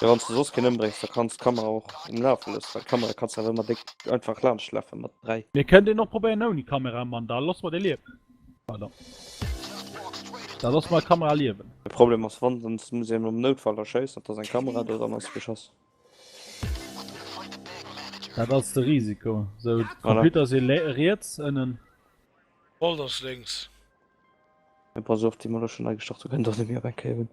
Ja, wann du soss keen ëmbréngs, da kanns d'Kamera och um Lafe loossen, well d'Kamera kanns du awer ëmmer déck einfach laanschtlafe mat 3. Mir kënnt een och probéieren ouni Kamera, man da loosse mer dee liewen. Pardon. Da loosse mer d'Kamera liewen. De Problem ass, wann, dann muss een am Noutfall da schéissen, et ass eng Kamera do, dann ass geschoss. Dat ass de Risiko. Sou, de Computer ass ee riets ënnen. Alt ass lénks. Pass op, déi mer elo schonn nei gestart hunn, kënnt och net méi op eng Kéier un.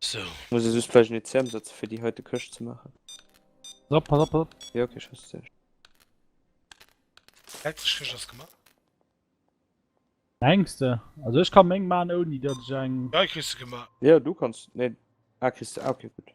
So. Muss es just gleich net CM setzen fir déi heite Këscht ze maachen. Pass op, pass op, pass op. Jo okay, ech wësse sech. Letzteg Këscht ass gemaach. Mengs de? Also ech ka meng maan ouni dat ech eng. Ja kriss de gemaach. Jo du kanns, nee ah kriss de, ah okay gutt.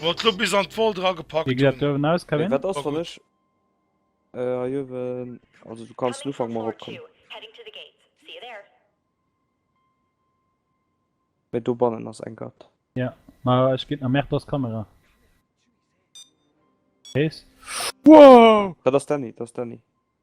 Wor d'Lo bis an d'Wol dra gepackt hun. Wéi gesäit d'Uewen aus, Kevin? Wat ass wann ech hei uewen, also du kanns den Ufank mol eropkommen, mee dobannen ass eng Gart. Jo, ma ech geet na merkt ass Kamera Kees. Wow! Dat ass Danny, dat ass Danny.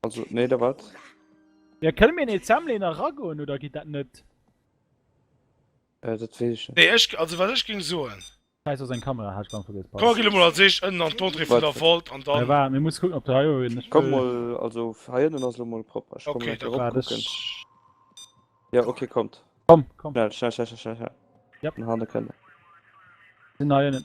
Also, nee, da wat? Ja, kënne mir en Assembleen eragoen oder geet dat net? Äh, dat weess ech net. Nee, ech, also wat ech géing soen. Scheiss, ass eng Kamera, hat ech blank vergiess, pardon. Komm, gi du mol als éischt ënnen an d'Entrée vun der Vault an dann. Äh, waart, mir muss kucken, ob der hei och een. Komm mol, also hei ënnen ass elo mol propper. Ech komme gläich erop kucken. Ja, okay, kommt. Komm, komm. Schnell, schnell, schnell, schnell, schnell. Yep. Den Hanneken. Sinn hei ënnen.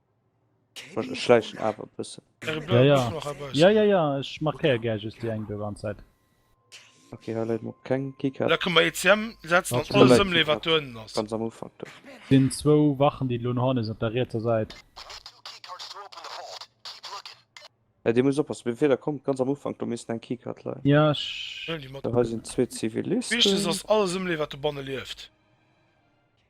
Schleichen awer bëssen. Ja ja. Ja ja ja, ech markéier gär just déi eng do wann Zäit. Ok, hei läit mol keng Keycard. Da kënne mer ECM setzen an alles ëmleeën wat do ënnen ass. Ganz am Ufank do. Sinn zwou Wachen déi elo no hannen sinn op der rietser Säit. Ja dir musst oppassen, beim Feeler kommt ganz am Ufank do missten eng Keycard leien. Ja ech. Hei sinn zwee Zivilisten. Wichtegst ass alles ëmleeën wat dobanne lieft.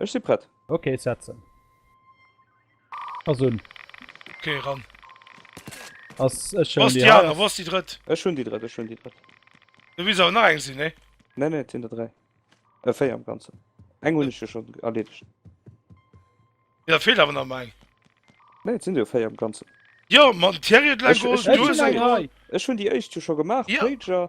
Ech si prett. Ok, setzen ass un. Ok, ran ass. Ech hun déi aner. Wou ass déi drëtt? Ech hun déi drëtt, ech hun déi drëtt. Do misst awer nach eng sinn, nee? Nee, nee, et sinn der dräi. Äh, véier am Ganzen. Eng hun ech jo schon erleedegt. Jo, da feelt awer nach emol eng. Nee, et sinn der jo véier am Ganzen. Jo, ma den Thierry huet elo eng geholl, du hues eng geholl. Ech hun déi éischt jo scho gemaach, Pager.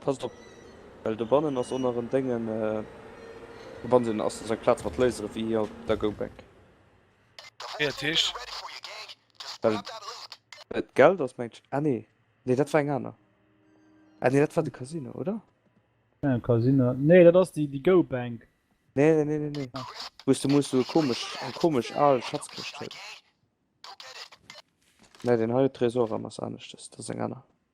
Passt op, well dobannen ass onneren Déngen, dobannen ass dës eng Plaz mat Lasere wéi hir op der Go Back. Fäerteg. Well d'Geld ass mengt ech, ah nee, nee dat war eng aner, ah nee dat war de Casino, oder? Keng Casino, nee dat ass déi Go Bank. Nee nee nee nee nee, wou s de muss esou komesch, eng komesch al Schatzkëscht huet. Nee deen hei huet Tresor an ass aneschtes, dat ass eng aner.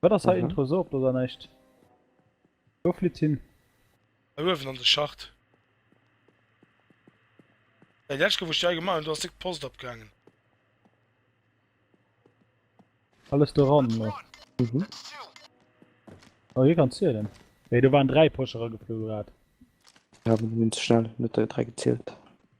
Wat ass hei Mhm. Intro sou op oder näischt? Wou flitt hin? Hei uewen an de Schacht. Ey, di lescht Kéier wou ech di hei gemaach hunn, do ass direkt d'Post opgaangen. Alles do ran lo. Mhm. Oh hie kann zielen. Ey do waren 3 Posch erageflu grad. Ja, mir hunn ze schnell net déi 3 gezielt.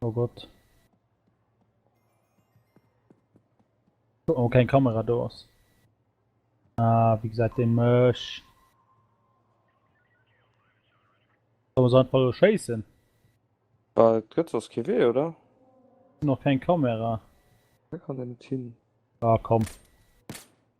Oh Gott. Oh, keng Kamera do ass. Ah, wie gesäit dee mech? Soll mer se einfach lo schéissen? Bah, et gëtt soss kee Wee, oder? Sin och keng Kamera. Hei kann een net hin. Ah, komm.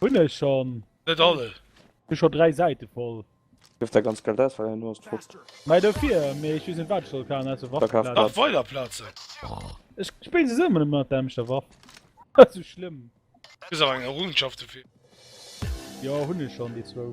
Hun ech schon. Net alle. Hun schon 3 Säite voll. Gëff der ganz Geld aus, well herno ass d'Frotzt. Mei dofir, mee ech wees net wat ech soll kafen ausser Waffeplazen. Nach weider Plaze. Ech spille se sou mat der emschter Waff. Net sou schlëmm. Kriss awer eng Errungenschaft dofir. Jo hun ech schon déi zwou.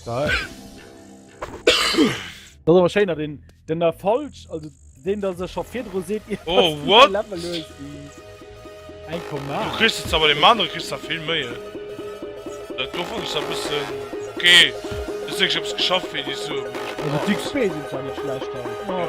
Style. Das awer schéiner den den der falsch also den der se scho virdro seet oh, what? Eng kom Du christ awer de Mann christ a vill méie. Dat do vu a bis okay sech ops geschafft fir Di so Fi spéit schlecht. Ja,